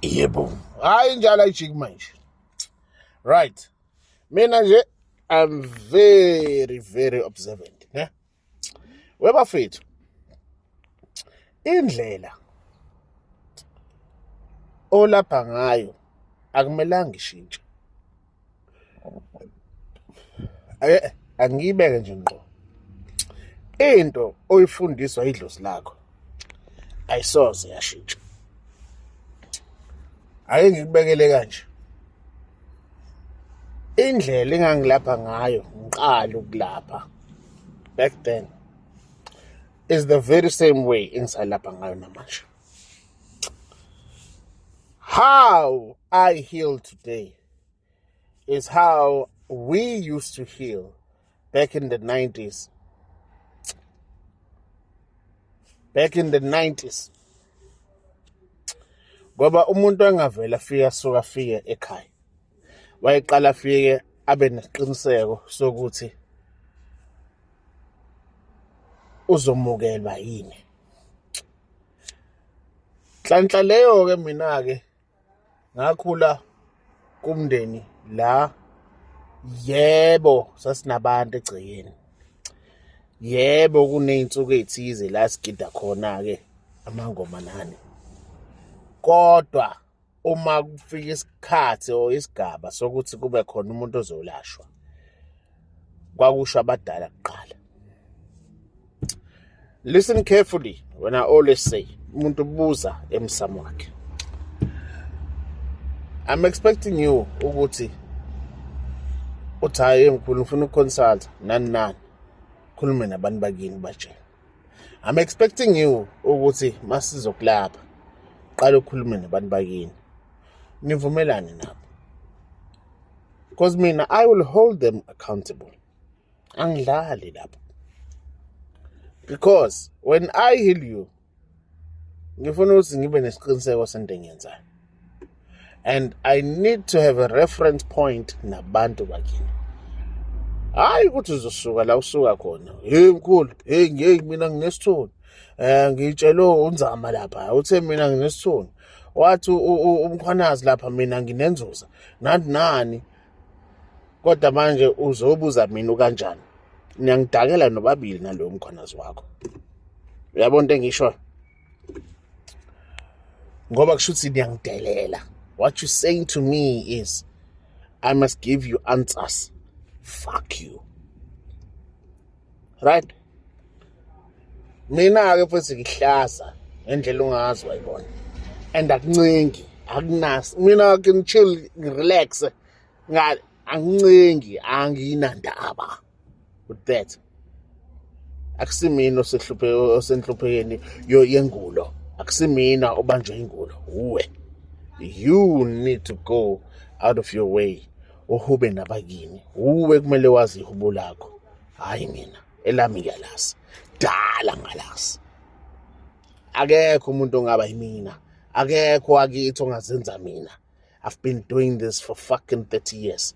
yebo hayi njalo ayijiki manje right mina nje i'm very very observant ne webafethu indlela olapha ngayo akumelanga ishintshe ake angiyibeke nje ngqo into oyifundiswa idlozi lakho ayisoze yashintsha ake ngikubekele kanje indlela engangilapha ngayo ngiqala ukulapha back then is the very same way engisalapha ngayo namanje How I heal today is how we used to heal back in the 90s. Back in the 90s. Ngoba umuntu angavela afike asuka afike ekhaya. Wayeqala afike abe nesiqiniseko sokuthi uzomukelwa yini. nhlanhla leyo-ke mina-ke ngakhula kumndeni la yebo sasinabantu egcekeni yebo kuney'nsuku ey'thize la sigida khona-ke amangoma nani kodwa uma kufika isikhathi or isigaba sokuthi kube khona umuntu ozolashwa kwakusho abadala kuqala listen carefully when i always say umuntu ubuza emsamo wakhe i'm expecting you ukuthi uthi hayi ngikhulu ngifuna ukuconsult nani nani khulume nabantu bakini batshela I'm expecting you ukuthi masizokulapha qala ukhulume nabantu bakini nivumelane nabo because mina I will hold them accountable angidlali lapho because when I heal you ngifuna ukuthi ngibe nesiqiniseko sento engiyenzayo and i need to have a reference point nabantu bakini hayi ukuthi uzosuka la usuka khona hey mkhulu hey ngeke mina nginesithunzi eh ngitshelwe unzama lapha uthe mina nginesithunzi wathi umkhwanazi lapha mina nginenzuza nani nani kodwa manje uzobuza mina kanjani niyangidakela nobabili naloyo mkhwanazi wakho uyabona into engishoyo ngoba kusho ukuthi niyangidelela what you saying to me is i must give you answers fuck you right mina-ke futhi ngihlaza ngendlela ungazi wayibona and akuncengi akunas mina ke ngichill ngirelaxe ngal angincengi anginandaba with that akusimina osehluphe osenhluphekeni yengulo akusimina obanjwe ingulo uwe you need to go out of your way uhube nabakini uwe kumele wazi ihubo lakho hayi mina elami ngiyalazi dala ngalazi akekho umuntu ongaba yimina akekho akithi ongazenza mina i've been doing this for fucking 30 years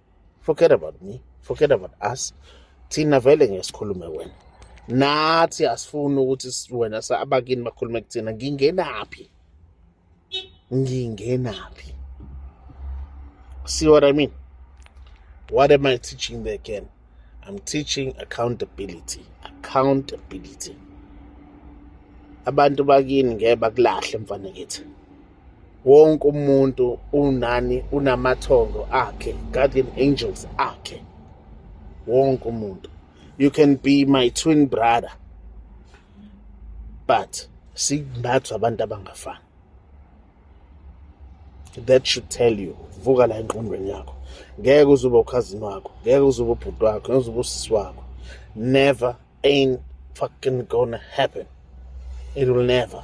forget about me forget about us thina vele ngeke sikhulume wena nathi asifuni ukuthi wena abakini bakhulume kuthina ngingenaphi ngingenaphi see what i mean what am i teaching there again i'm teaching accountability accountability abantu bakini ngeke bakulahle mfana kithi wonke umuntu unani unamathongo akhe guardian angels akhe wonke umuntu you can be my twin brother but sinathi abantu abangafani that should tell you vuka la engqondweni yakho ngeke uzoba ukhazini wakho ngeke uzoba ubhuti wakho ngeke uzoba usisi wakho never ain't fucking gonna happen it will never